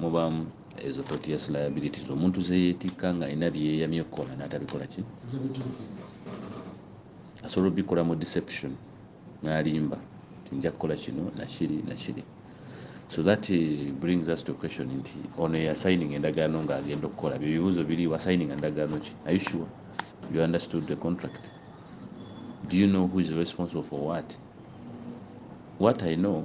mubaamu ezo totious liabilities omuntu zeyeetikka nga alina byeyeyamye okukola n'atabikola ki asobola obikola mu deception n'alimba tinja kukola kino nakiri nakiri so that eh, brings us to question nti ono eyasayininga endagaano ng'agenda okukola byo bibuuzo biri wasayininga ndagaano ki are you sure you understood the contract do you know who is responsible for what what i know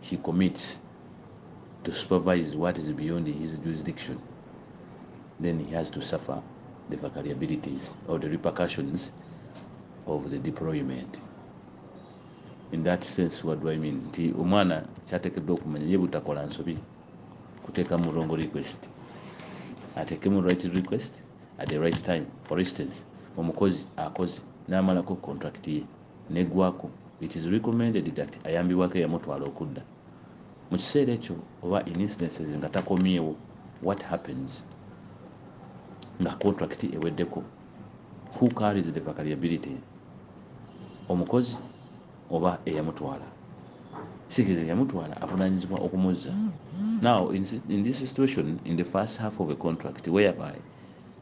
He commits to supervise what is beyond his jurisdiction then he has to suffer the vacariabilities or the repercussions of the deployment in that sense what do I mean nti omwana kyatekeddwa okumanya ye butakola nsobi kuteeka mu wrong request ateekemu right request at the right time for instance omukozi akoze n'amalako contract ye negwako it is recommended that ayambibwako eyamutwala okudda mukiseera ekyo oba in incidences nga takomyewo what happens nga contract eweddeko who carries the vacariability omukozi oba eyamutwala sikiriza eyamutwala avunanyizibwa okumuzza now in, in this situation in the first half of a contract whereby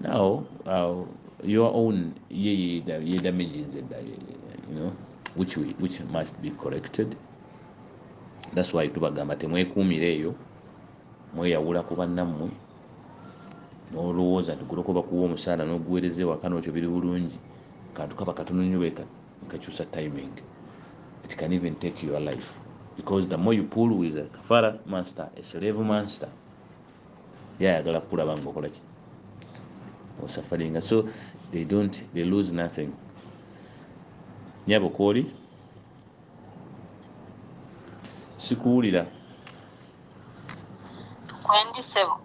now uh, your own ye ye ye damage is that you know which we, which must be corrected that's why tubagamba temwekuumira eyo mweyawula ku bannammwe n'olowooza nti guloko bakuwa omusaala n'oguweereza ewaka n'okyo biri bulungi kantu kaba katono nnyo bwe kakyusa timing it can even take your life because the more you pull with a kafara monster a slave monster ye ayagala kukulaba nga okola ki osafaringa so they don't they lose nothing nyabo kwoli sikuwulira kwendi sebo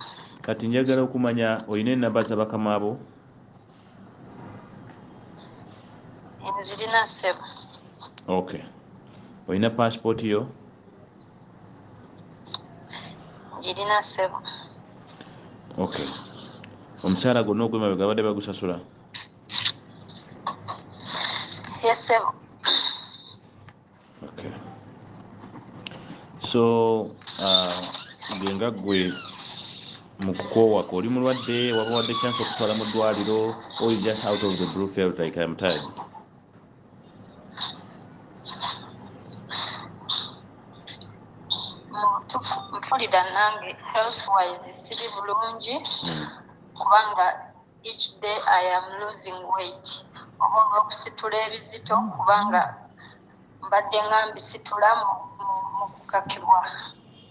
kati njagala okumanya olina enamba za bakama abo nzirina sebo okay olina passport yo girina ssebo ok omusaala gwonna ogwemabega abadde bagusasula ye ssebo ok so uh, gwe nga gwe mu kukoowako oli mulwadde waba wadde chance okutwala mu ddwaliro or just out of the blue felt like im tired mutufu mpulira nange health wise siri bulungi hmm. kubanga each day i am losing weight oba olwokusitula ebizito kubanga mbadde nga mbisitula mu kukakibwa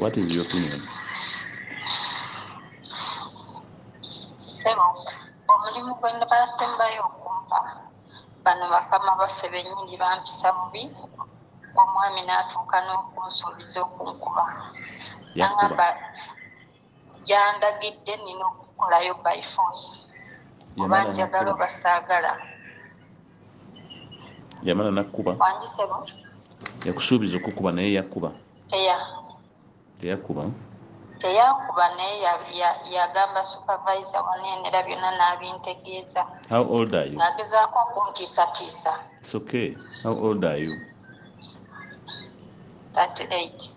What is your opinion? Sebo, omulimu gwe basembayo okumpa bano bakama baffe bennyini bampisa bubi omwami n'atuuka n'okunsuubiza okunkuba nangamba gyandagidde nina okukolayo by force oba njagala oba saagala yamala nakkuba wangisebo yakusuubiza okukuba naye yakkuba teya teyakkuba teyankuba naye yagamba supervisor wanenera byonna n'abintegeeza ng'agezaako okuntiisatiisa It's okay. How old are you? 38.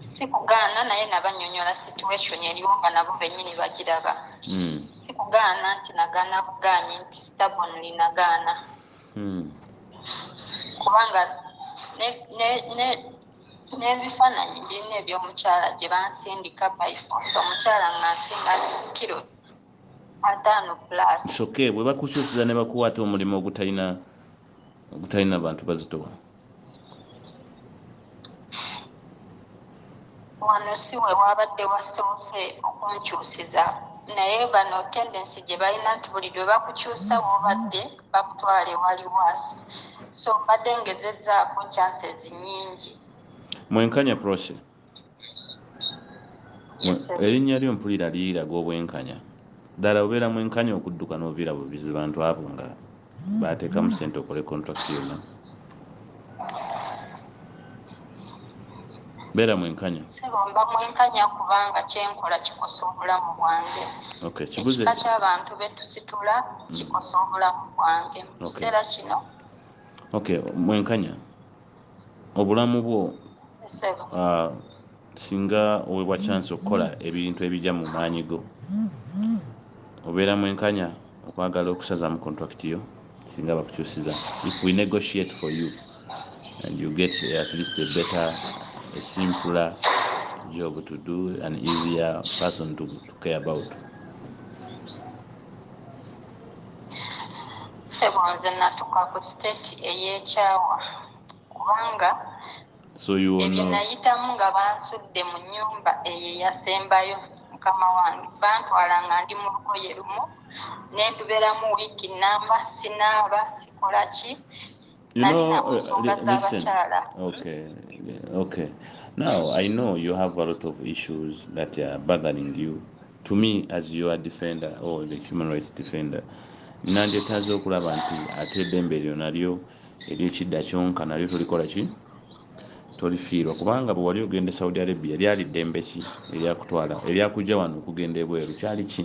sikugaana naye nabanyonyola situation eriwo nga nabo benyini bagiraba hmm. sikugaana nti nagaana bugaanyi nti stabonly nagaana hmm. kubanga n'ebifaananyi birina ebyomukyala gye bansindika byfos omukyala nga nsinga kiro ataano plus soke bwe bakukyusiza ne bakuwaata omulimu ogutalina ogutalina bantu bazitowa wano si we waabadde wasoose okunkyusiza naye bano tendensi gye balina nti buli lwe bakukyusa woobadde bakutwala ewali waasi so mbadde ngezezaako chances nyingi mwenkanya proce erinnya lyo mpulira liraga obwenkanya ddala obeera mwenkanya okudduka n'oviira buvizi bantu abo nga baateekamu sente okole contract yonna beera mwenkanya sibomba mwenkanya kubanga kyenkola kikosa obulamu bwange ekika kyabantu betusitula mm. kikosa obulamu bwange mukiseera kino okay mwenkanya obulamu bwo ah, singa owebwa chance okukola ebintu ebija mu maanyi go obeera mwenkanya okwagala okusazamu contract yo singa bakukyusiza if we negotiate for you and you get at least a better a simpler job to do an easier person to, to care about Sebo nze natuka ku state eyekyawa kubanga ebyenayitamu nga bansudde mu nyumba eyo eyasembayo mukama wange bantwala nga ndi mu lugoye lumu nenduberamu wiiki namba sinaaba sikolaki you know, listen. Okay, okay. Now I know you have a lot of issues that are bothering you. To me, as you are defender or the human rights defender, nandyetaaze okulaba nti ate eddembe eryo nalyo eryekidda kyonka nalyo tolikola ki tolifiirwa kubanga bwe wali ogenda e saudi arabia lyali ddembe ki eryakutwala eryakujja wano okugenda ebweru kyali ki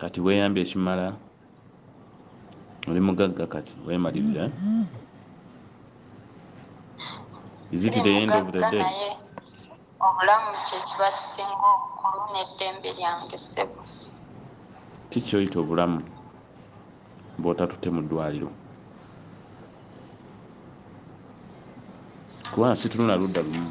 Kati weyambye ekimala oli mugagga kati wemalirira is it the end of the day obulamu kyekiba kisinga obukulu neddembe lyange ssebo kikyoyita obulamu bwotatute mu ddwaliro kubanga situnula ludda lumu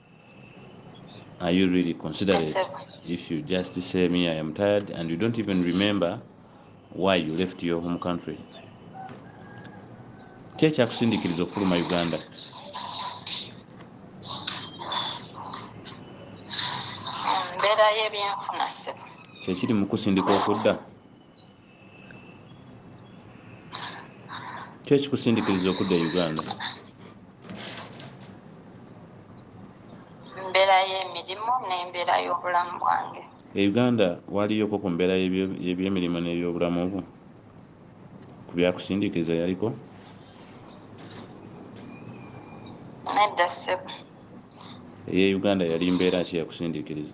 are you really considerate if you just say me i am tired and you don't even remember why you left your home country ki ekyakusindikiriza okufuluma uganda mbeera y'ebyenfuna ssebo kyekiri mukusindika okudda kyo ekikusindikiriza okudda e uganda embeera y'emirimu n'embeera y'obulamu bwange e uganda waliyoko ku mbeera y'ebyemirimu n'ebyobulamu bwo ku byakusindikiriza yaliko nedda ssebo eye uganda yali mbeera ki yakusindikiriza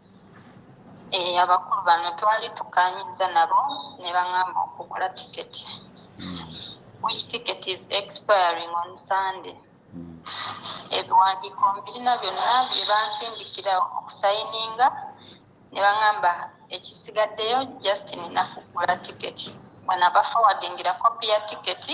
Eh, abakulu bano twali tukanyiza nabo ne baŋamba okugula tiketi hmm. which ticket is expiring on sunday hmm. ebiwandiiko mbirina byonna bye bansindikira okusayininga ne baŋamba ekisigaddeyo just nina kugula tiketi wanabafowadingira kopi ya tiketi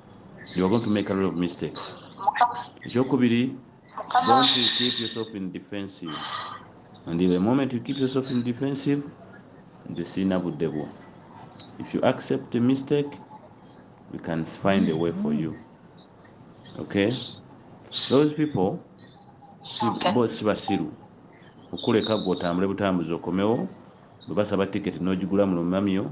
you are going to make a lot of mistakes ekyokubiri don't you keep yourself in defensive and the moment you keep yourself in defensive nze sirina budde bwo if you accept a mistake we can find a way for you okay those people bo sibasiru okuleka gwe otambule butambuzi okomewo bwebasaba tiketi nogigula mulumamyo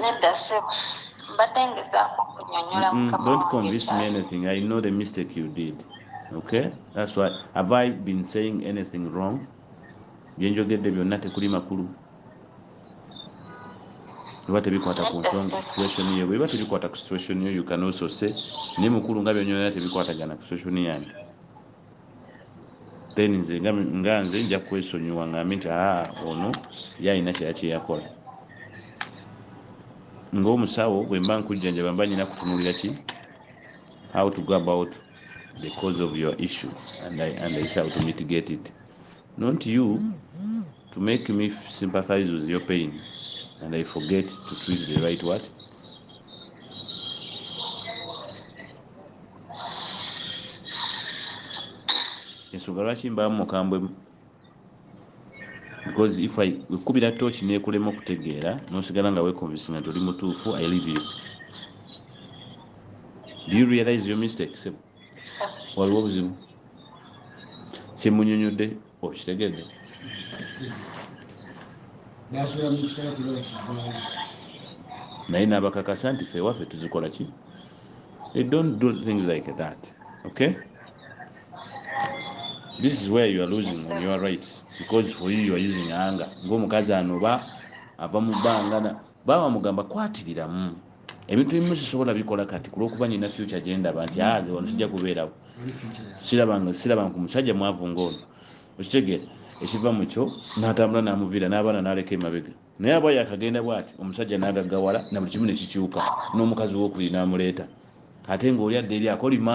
nedda ssebo mbadde ngezaako okunyonyola mm, mukama don't convince me anything i know the mistake you did okay that's why have i been saying anything wrong byenjogedde byonna tekuli makulu biba tebikwata ku nsonga situation yo bwebiba tebikwata ku situation yo you can also say naye mukulu nga byonyonera tebikwatagana ku situation yange then nze nga nze nja kwesonyiwa ngambe nti aa ah, ono ye alina kyera kyeyakola ngaomusawo bwemba nkujjanjaba mba nyina kutunulira ki how to go about the cause of your issue and i, and I how to mitigate it not you to make me sympathize with your pain and i forget to treat the right what ensonga lwaki mbaamu mukambwe because if i wekubira tooki nekulema okutegeera nosigala nga wekonvisinga nti oli mutuufu i live you do you realize your mistake sebo waliwo obuzibu kyemunyonyodde okitegedde naye nabakakasa nti fe waffe tuzikola ki they don't do things like that okay this is where you are losing on your rights because for you you are using anger ngaomukazi anoba ava mu bbanga Baaba amugamba kwatiriramu ebintu ebimu sisobola bikola kati kulwokuba nina future gyendaba nti aa ah, nze wano sijja kubeerawo sirabanga ku musajja mwavu ngaono okitegeera ekiva mukyo natambula namuviira n'abaana naleka emabega naye aba yakagenda bwati omusajja nagagawala na buli kimu nekikyuka n'omukazi wokubiri namuleeta ate ngaoli adda eri akolima